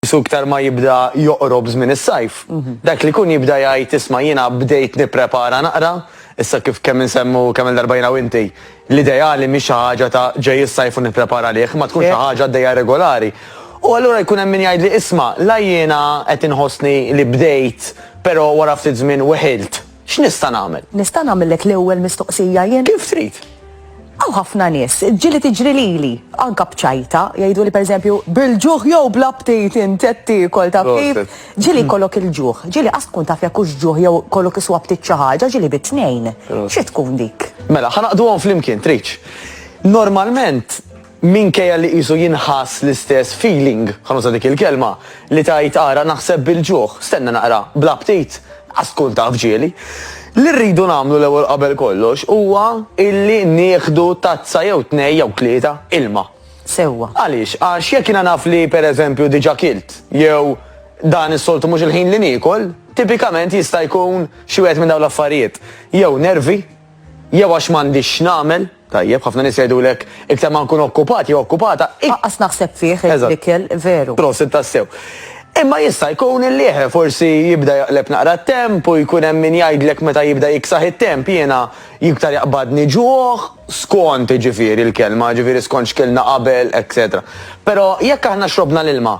Qisu iktar ma jibda joqrob żmien is-sajf, dak li jkun jibda jgħid isma' jiena bdejt nipprepara naqra, issa kif kemm insemmu kemm-il darba jiena u inti, l-ideali mhix xi ħaġa ta' ġej is-sajf u nipprepara għalih, imma tkun xi ħaġa għaddejja regolari. U allura jkun hemm min jgħidli isma' la jiena qed inħossni li bdejt, però wara ftit żmien weħilt. X'nista' nagħmel? Nista' nagħmillek l-ewwel mistoqsija jien? Kif trid. Hawn ħafna nies, ġieli tiġri lili, anke b'ċajta, jgħiduli pereżempju, bil-ġuħ jew bla ptit int qed tiekol taf kif? Ġieli jkollok il-ġuħ, ġieli qatt tkun taf jekk hux ġuħ jew kollok iswa ptit xi ħaġa, ġieli bit-tnejn. Xi tkun dik? Mela, ħa naqduhom flimkien, tridx. Normalment, Minkejja li qisu jinħass l-istess feeling, ħa nuża dik il-kelma, li tgħid ara naħseb bil-ġuħ, stenna naqra bla ptit, qas tkun taf ġieli. Li rridu nagħmlu l-ewwel qabel kollox huwa illi nieħdu tazza jew tnejn jew tlieta ilma. Sewwa. Għaliex? Għax jekk jiena naf li pereżempju diġà kilt jew dan is-soltu mhux il-ħin li niekol, tipikament jista' jkun xi wieħed minn dawn l-affarijiet. Jew nervi, jew għax m'għandix x'nagħmel. Tajjeb, ħafna nies jgħidulek, iktar ma nkun okkupat jew okkupata, ik. Anqas naħseb fih l-ikel, veru. Prosit tassew. Imma jista' jkun illi eħe, forsi jibda jaqleb naqra t-temp u jkun hemm min jgħidlek meta jibda jiksaħ it-temp, jiena iktar jaqbadni ġuħ, skont jiġifieri l-kelma, jiġifieri skont x'kilna qabel, etc. Però jekk aħna xrobna l-ilma,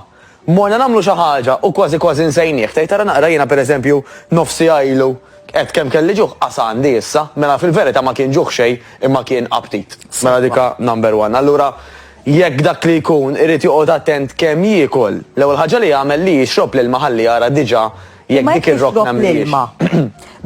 Morna nagħmlu xi ħaġa u kważi kważi nsejnieh. Tgħid ara naqra jiena pereżempju nofs siegħa ilu għedt kemm kelli ġuħ qas għandi issa. Mela fil-verità ma kien ġuħ xejn imma kien aptit. Mela dik hi number one. Allura jekk dak li jkun irid joqgħod attent kemm jiekol, l-ewwel ħaġa li jagħmel li jixrob l-ilma ħalli jara diġà Jekk Ma dik jekk ir-rokna tixrob mhijiex. l-ilma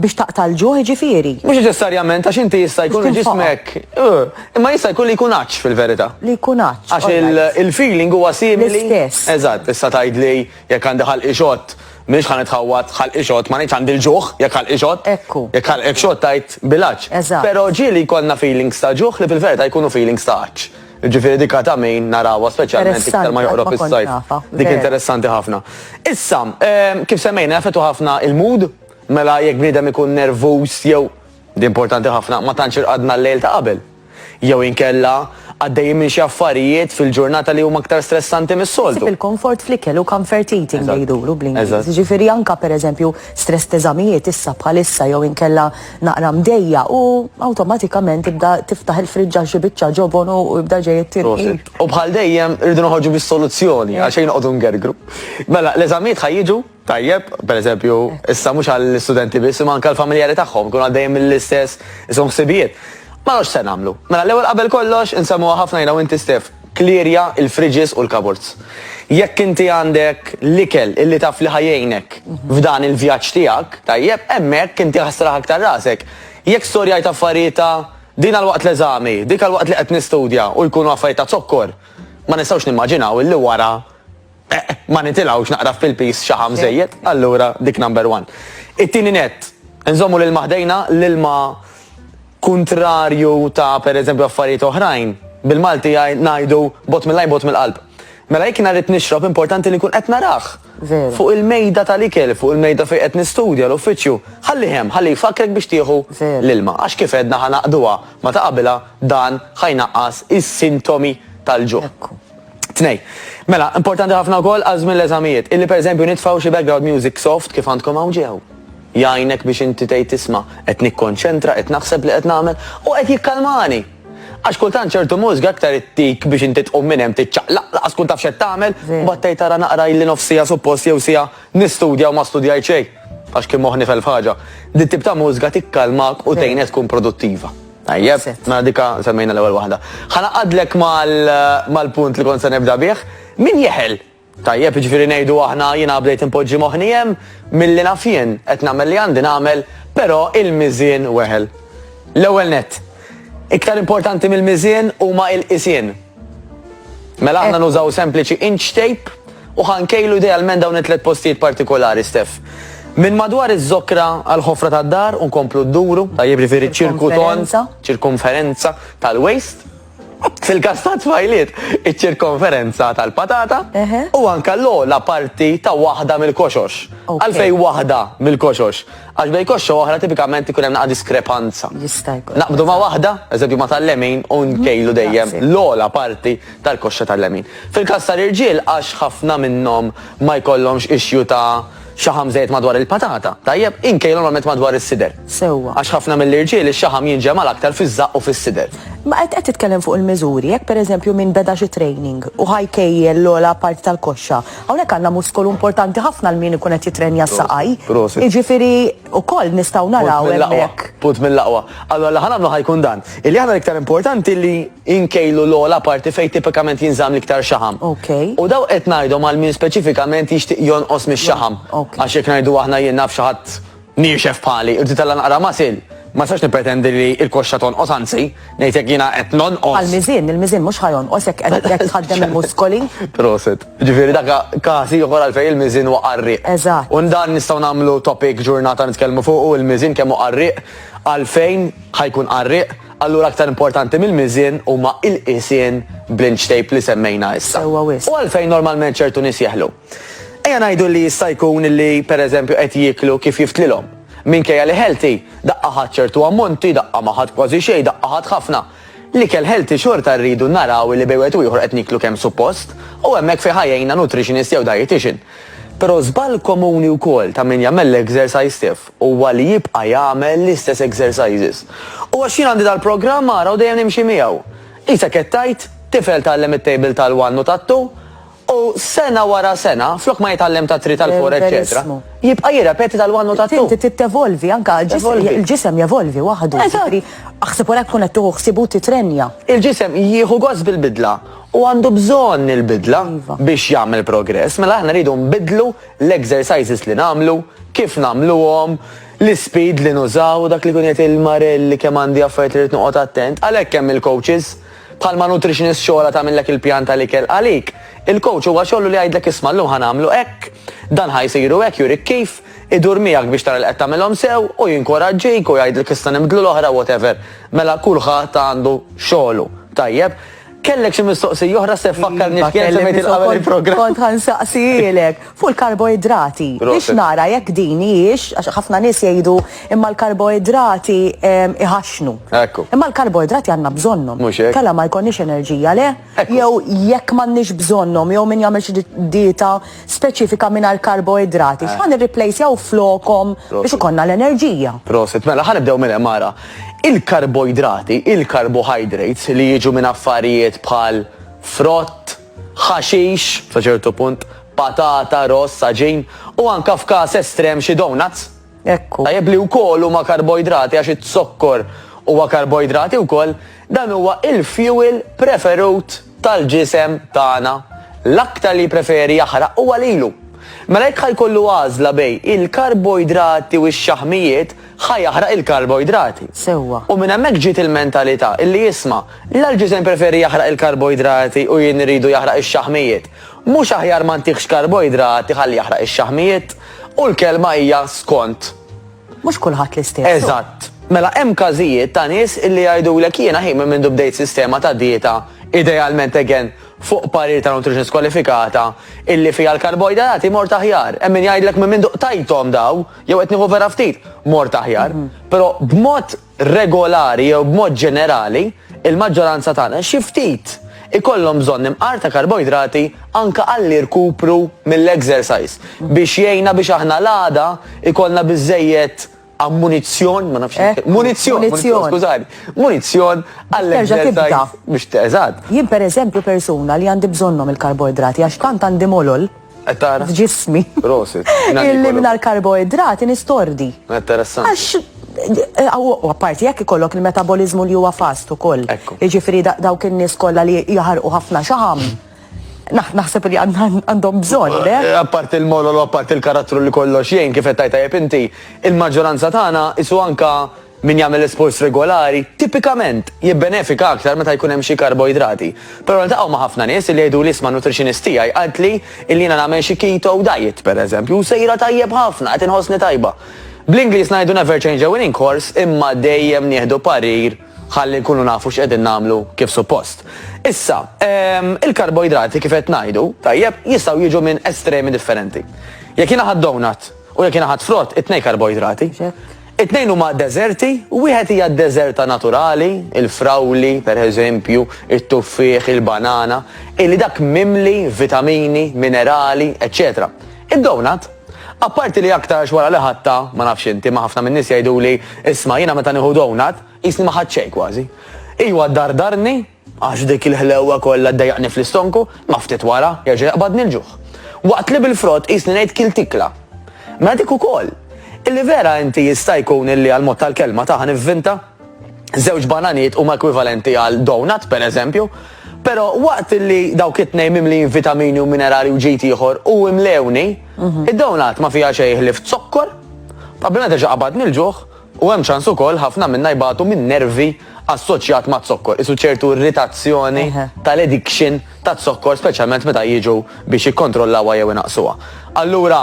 biex taqta' l-ġuħ jiġifieri Mhux neċessarjament għax inti jista' jkun Biex tinfoqa. ġismek. eh, Imma jista' jkun li jkun għatx fil-verità. li jkun għatx. Għax all il- right. il-feeling huwa simili. L-istess. Eżatt, issa tgħidli jekk għandi ħalqi xott, m'iniex ħa nitħawwad ħalqi xott, ma ngħidx għandi l-ġuħ jekk ħalqi xott. Ekku. Jekk ħalqek xott tgħid bil-għatx. Eżatt. Però ġieli jkollna feelings ta' ġuħ li fil-verità jkunu feelings ta' għatx. Jiġifieri dik għad għamejn narawha speċjalment iktar ma joqrob is-sajf. Dik interessanti ħafna. Issa, kif semmejna jaffettwa ħafna il-mood, mela jekk bniedem ikun nervuż jew di importanti ħafna ma tantx irqadna l-lejl ta' qabel. Jew inkella għaddejjin minn xi affarijiet fil-ġurnata li huma aktar stressanti mis-soltu. Il-comfort fl-ikel u comfort eating li jduru bl-Ingliż. Jiġifieri anke pereżempju stress teżamijiet issa bħalissa jew inkella naqra mdejja u awtomatikament ibda tiftaħ il-friġġa xi biċċa ġobon u ibda ġej it-tirqim. U bħal dejjem irridu noħorġu bis-soluzzjoni għal xejn noqogħdu ngergru. Mela, l-eżamijiet ħajjiġu tajjeb, per eżempju, issa mhux għall-istudenti biss, imma anke l-familjari tagħhom, kun għaddejjem mill-istess isom ħsibijiet. Ma nafx se nagħmlu. Mela l-ewwel qabel kollox insemmuha ħafna jiena u inti Stef. Klierja l-fridges u l-cupboards. Jekk inti għandek l-ikel illi taf li ħa jgħinek f'dan il-vjaġġ tiegħek, tajjeb, hemmhekk inti ħa sraħ aktar rasek. Jekk storjajt affarijiet ta' din għal waqt l-eżami, dik għal waqt li qed nistudja u jkunu affarijiet ta' zokkor, ma nistgħux nimmaġinaw illi wara. Eq, ma nitilgħux naqra fil-piż xaħam żejjed, allura dik number one. It-tieni nett, nżommu l-ilma ħdejna, l-ilma kuntrarju ta' pereżempju affarijiet oħrajn, bil-Malti ngħidu bogħod mill-għajn bogħod mill-qalb. Mela jekk jiena rrid nixrob importanti li nkun qed narah. Veru. Fuq il-mejda tal-ikel, fuq il-mejda fejn qed nistudja l-uffiċċju, ħallih hemm, ħalli jfakkrek biex tieħu Veru. l-ilma. Għax kif għedna ħa naqduha ma ta' qabilha dan ħa jnaqqas is-sintomi tal-ġuħ. Ekku. Tnej. Mela, importanti ħafna wkoll għal żmien l-eżamijiet, illi pereżempju nitfgħu xi background music soft kif għandkom hawn ġiew. Jgħinek biex inti tgħid isma', qed nikkonċentra, qed naħseb li qed nagħmel u qed jikkalmani. Għax kultant ċertu mużika aktar ittik biex inti tqum minn hemm tiċċaqlaq, laqas tkun taf x'qed tagħmel, u mbagħad tgħid ara naqra illi nofs siegħa suppost jew siegħa nistudja u ma studjajt xejn għax kien moħħni f'elf ħaġa. Dit-tip ta' mużika tikkalmak u tgħinek tkun produttiva. Tajjeb, ma dika semmejna l-ewwel waħda. Ħanaqadlek mal-punt li kont se nibda bih. Min jeħel? Tajjeb, ġifieri ngħidu aħna jiena bdejt inpoġġi moħħni hemm milli naf jien qed nagħmel li għandi nagħmel, però il-miżien weħel. L-ewwel nett, iktar importanti mill-miżien huma l-qisien. Mela aħna nużaw sempliċi inch tape u ħankejlu idealment dawn it-tliet postijiet partikolari, Stef. Minn madwar iż-żokra għal ħofra tad-dar u nkomplu d-duru, tajjeb ġifieri ċirkuton, ċirkumferenza tal-waist. Fil-kas ta' tfajliet, iċ-ċirkonferenza tal-patata u anka l-ola parti ta' waħda mill-koxox. Għalfej waħda mill-koxox. Għax bejn koxxa u oħra tipikament ikun hemm naqa' diskrepanza. Jista' jkun. Naqbdu ma' waħda, eżempju ma' tal-lemin, u nkejlu dejjem l-ogħla parti tal-koxxa tal-lemin. Fil-każ tal-irġiel għax ħafna minnhom ma jkollhomx issue ta' xaħam żejjed madwar il-patata, tajjeb, inkejlu normalment madwar is-sider. Sewwa. Għax ħafna mill-irġiel ix-xaħam jinġema' l-aktar fiż-żaqq u fis-sider. Ma qed titkellem fuq il-miżuri, jekk pereżempju min beda xi training u ħa jkejjel l-ogħla parti tal-koxxa, Hawnhekk għandna muskolu importanti ħafna għal min ikun qed jittrenja s-saqaj. Prosit. Jiġifieri wkoll nistgħu naraw Punt mill-aqwa, hemmhekk. punt mill-aqwa. Allora li ħanamlu ħajkun dan. Illi aħna l-iktar importanti li nkejlu l-ogħla parti fejn tipikament jinżamm l-iktar xaħam. Ok. U daw qed ngħidhom għal min speċifikament jixtieq jonqos mix-xaħam. Ok. Għax jekk ngħidu aħna jien naf xi ħadd Niexef bħali, u tżid għalha naqra muscle. Ma nistax nippretendi li l-koxxa tonqos, anzi, ngħid jekk jiena qed nonqos. Għall-miżien, il-miżien mhux ħa jonqos jekk qed jekk tħaddem il-muskoli. Proset. Jiġifieri dak każ ieħor għalfejn il-miżien huwa qarrieq. Eżatt. U dan nistgħu nagħmlu topic ġurnata nitkellmu fuqu, il-miżien kemm hu qarrieq, għalfejn ħa jkun qarrieq, allura aktar importanti mill-miżien huma l-qisien bl-inch tape li semmejna issa. Sewwa wisq. U għalfejn normalment ċertu nies jeħlu? Ejja ngħidu li jista' jkun li pereżempju qed jieklu kif jiftlilhom. Minkejja li healthy, daqqa ħadt ċertu ammonti, daqqa ma ħadt kważi xejn, daqqa ħadt ħafna. L-ikel healthy xorta rridu naraw li bejn wieħed u ieħor qed nieklu kemm suppost, u hemmhekk fejn ħa jgħinna nutritionist jew dietician. Però żball komuni wkoll ta' min jagħmel l-exercise stiff huwa li jibqa' jagħmel l-istess exercises. U għax jien għandi dal-programm ara u dejjem nimxi miegħu. Qisek qed tgħid, tifel tgħallem it-table tal-one u tat-two, U sena wara sena, flok ma jitgħallem tat-three, tal-four, eċċetera, jibqa' jirrepeti tal-one u tat-two. Inti trid tevolvi, anke l-ġisem jevolvi waħdu. Eżatt. Aħseb wara jekk tkun qed tieħu ħsieb u titrenja. Il-ġisem jieħu gost bil-bidla u għandu bżonn il-bidla biex jagħmel progress. Mela aħna rridu nbiddlu l-exercises li nagħmlu, kif nagħmluhom, l-ispeed li nużaw, dak li jkun jgħid il-Marelli kemm għandi affarijiet li rrid noqgħod attent. Għalhekk hemm il-coaches. Bħalma nutritionist xogħolha tagħmillek il-pjan tal-ikel għalik, il-coach huwa xogħlu li jgħidlek isma' llum ħa nagħmlu hekk, dan ħa jsir u hekk jurik kif, idur miegħek biex tara li qed tagħmilhom sew u jinkoraġġik u jgħidlek issa nibdlu l-oħra whatever. Mela kulħadd għandu xogħlu. Tajjeb. Kellek xi mistoqsija oħra se fakkarni x'kien semmejt il-qabel il-programm. Kont ħa nsaqsielek. Fuq il-karboidrati, biex nara jekk din hijiex, għax ħafna nies jgħidu imma l-karboidrati ehm, iħaxnu. Ekku. Imma l-karboidrati għandna bżonnhom. Mhux hekk. Kalla ma jkollniex enerġija le, jew jekk m'għandniex bżonnhom, jew min jagħmel xi dieta speċifika mingħajr karboidrati, eh. x'ħan irriplejsjaw flokom biex ikollna l-enerġija. Prosit, mela ħanibdew minn hemm ara. Il-karboidrati, il-carbohydrates li jiġu minn affarijiet bħal frott, ħaxix, sa ċertu punt, patata, ross, għaġin, u anke f'każ estrem xi donuts. Hekk hu. Tajjeb li wkoll huma karboidrati għax iz-zokkor huwa karboidrati wkoll, dan huwa il-fuel preferut tal-ġisem tagħna. L-aktar li jippreferi jaħraq huwa lilu. Mela jekk ħa jkollu għażla bejn il-karboidrati u x-xaħmijiet, ħa jaħraq il-karboidrati. Sewwa. U minn hemmhekk ġiet il-mentalità illi isma', la l-ġisem jpreferi jaħraq il-karboidrati u jien irridu jaħraq ix-xaħmijiet. Mhux aħjar ma ntihx karboidrati ħalli jaħraq ix-xaħmijiet? U l-kelma hija skont. Mhux kulħadd l-istess, hu. Eżatt. Mela hemm każijiet ta' nies illi jgħidulek jiena hi minn mindu bdejt sistema ta' dieta, idealment again fuq parir ta' nutritionist kwalifikata, illi fiha l-karboidrati mort aħjar. Hemm min jgħidlek minn mindu qtajthom dawn. jew qed nieħu vera ftit, mort aħjar, mhm. però b'mod regolari jew b'mod ġenerali, il-maġġoranza tagħna xi ftit ikollhom bżonn imqar ta' karboidrati anka għalli rkupru mill-exercise mhm. biex jgħina biex aħna l-għada ikollna biżejjed ammunizzjon, ma nafx, eh, munizzjon, skużani, munizzjon għall-exercise biex teżad. Jien per eżempju persuna li għandi bżonnom il-karboidrati għax tant għandi molol, Qed tara? F'ġismi. Prosit. Illi mingħajr karboidrati nistordi. Interessanti. Għax Eh, u apparti jekk ikollok il-metabolizmu li huwa fast ukoll. Jiġifieri dawk in-nies kollha li jaħarqu ħafna xaħam. Naħseb li għandhom bżonn, le? Eh, apparti il-molol, apparti il-karattru li kollox jgħin kif qed tajta inti, il-maġġoranza tagħna isu anka Min jagħmel isports regolari tipikament jibbenefika aktar meta jkun hemm xi karboidrati. Però niltaqgħu ma' ħafna nies illi jgħiduli isma' nutritionist tiegħi qaltli illi jiena nagħmel xi keto diet pereżempju u sejra tajjeb ħafna, qed inħossni tajba. Bl-Ingliż ngħidu never change a winning course imma dejjem nieħdu parir ħalli nkunu nafu x'qegħdin nagħmlu kif suppost. Issa, ehm, il-karboidrati kif qed ngħidu, tajjeb, jistgħu jiġu minn estremi differenti. Jekk jiena ħadd donut u jekk jiena ħadd frott, it-tnejn karboidrati. It-tnejn huma deżerti, wieħed hija d-deżerta naturali, il-frawli, per eżempju, it-tuffieħ, il-banana, illi dak mimli vitamini, minerali, eċċetera. Id-donut, apparti li aktarx wara li ħadtha, ma nafx inti, imma ħafna min-nies jgħiduli, isma' jiena meta nieħu donut, qisni ma ħadt xejn kważi. Iwa ddardarni, Għax dik il-ħlewwa kollha ddejjaqni fl-istonku, imma ftit wara jerġa' jaqbadni l-ġuħ. Waqt li bil-frott qisni ngħid kilt ikla. Mela dik ukoll! Illi vera inti jista' jkun illi għall-mod tal-kelma ta' ħa nivvinta? Żewġ bananijiet huma ekwivalenti għal doughnut, per eżempju. Però waqt illi dawk it-tnejn mimlijin vitamini u minerali u ġid ieħor u imlewni, id-doughnut ma fiha xejn ħlief zokkor. Qabel ma terġa' tqabadni l-ġuħ, U hemm ċans ukoll ħafna minna jbatu minn nervi assoċjat maz-zokkor, qisu ċertu irritazzjoni tal-addiction taz-zokkor speċjalment meta jiġu biex jikkontrollawha jew inaqqsuha. Allura,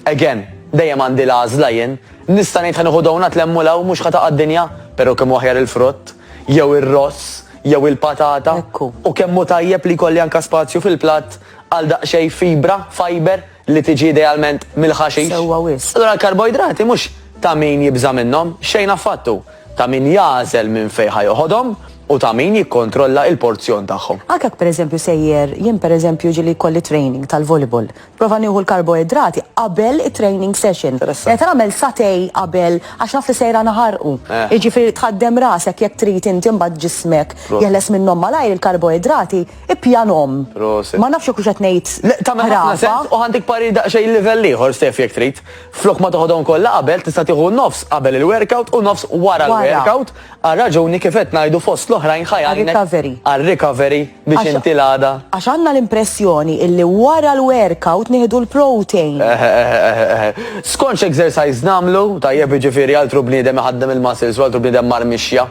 again, dejjem għandi l-għażla jien, nista' ngħid ħa nieħu donut lemmu 'l hawn mhux ħa taqa' d-dinja, però kemm hu aħjar il-frott, jew ir-ross, jew il-patata, u kemm hu tajjeb li jkolli anke spazju fil-platt għal daqsxejn fibra, fiber, li tiġi idealment mill-ħaxix. Sewwa wisq. Allura l-karboidrati mhux ta' min jibża' minnhom, xejn affattu, hu ta' min jagħżel minn fejn ħa joħodhom u ta' min jikkontrolla il-porzjon tagħhom. Anke jekk pereżempju sejjer, jien pereżempju jiġieli jkolli training tal-volleyball, nipprova nieħu l-karboidrati qabel it-training session. Meta nagħmel satè qabel għax naf li sejra naħarqu. Jiġifieri tħaddem rasek jekk trid inti mbagħad ġismek jeħles minnhom malajr il-karboidrati, Ippjanhom. Proset. Ma nafx jekk hux qed ngħid. Le, ta' minn ħafna ħrafa. sens u għandek parir daqsxejn livell ieħor Stef jekk trid. Flok ma toħodhom kollha qabel tista' tieħu nofs qabel il-workout u nofs wara Wara. l-workout għal raġuni kif qed ngħidu fost l-oħrajn ħa jgħinek Għar-recovery. għar-recovery biex Għax- inti l-għada. Għax għandna l-impressjoni illi wara l-workout nieħdu l-protein. Eh, eh, eh, eh, eh. Skonx exercise namlu, tajjeb jiġifieri altru bniedem iħaddem il-muscles u altru bniedem mar mixja.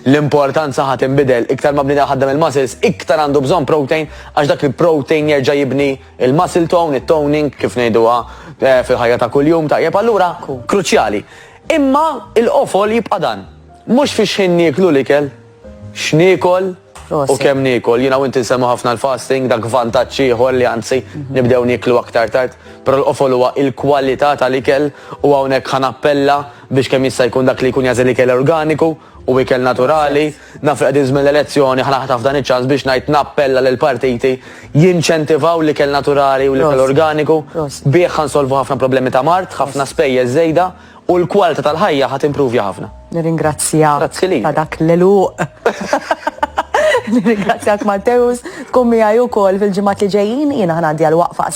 L-importanza ħa tinbidel, iktar ma bniedem ħaddem il-muscles, iktar għandu bżonn protein għax dak il-protein jerġa' jibni l-muscle tone, it-toning kif ngħiduha fil-ħajja ta' kuljum, tajjeb allura kruċjali. Imma l-qofol jibqa' dan, mhux fi x'ħin nieklu l-ikel, x'niekol, U kemm niekol, jiena u inti nsemmu ħafna l-fasting, dak vantaġġ ieħor li anzi mhm. nibdew nieklu aktar tard, però l-qofol huwa il-kwalità tal-ikel u hawnhekk ħa nappella biex kemm jista' jkun dak li jkun jażel ikel organiku u ikel naturali, naf li qegħdin żmien l-elezzjoni ħa naħtaf dan iċ-ċans biex ngħid nappella lil partiti jinċentivaw l-ikel naturali u l-ikel organiku bih ħansolvu ħafna problemi ta' mart, ħafna spejjeż żejda. U l-kwalta tal-ħajja ħa timpruvja ħafna. Nirringrazzjak. Grazzi li. Ta' dak l-eluq. Nirringrazzjak Matteus, tkun miegħi wkoll fil-ġimgħat li ġejjin jiena ħanaddi għal waqfa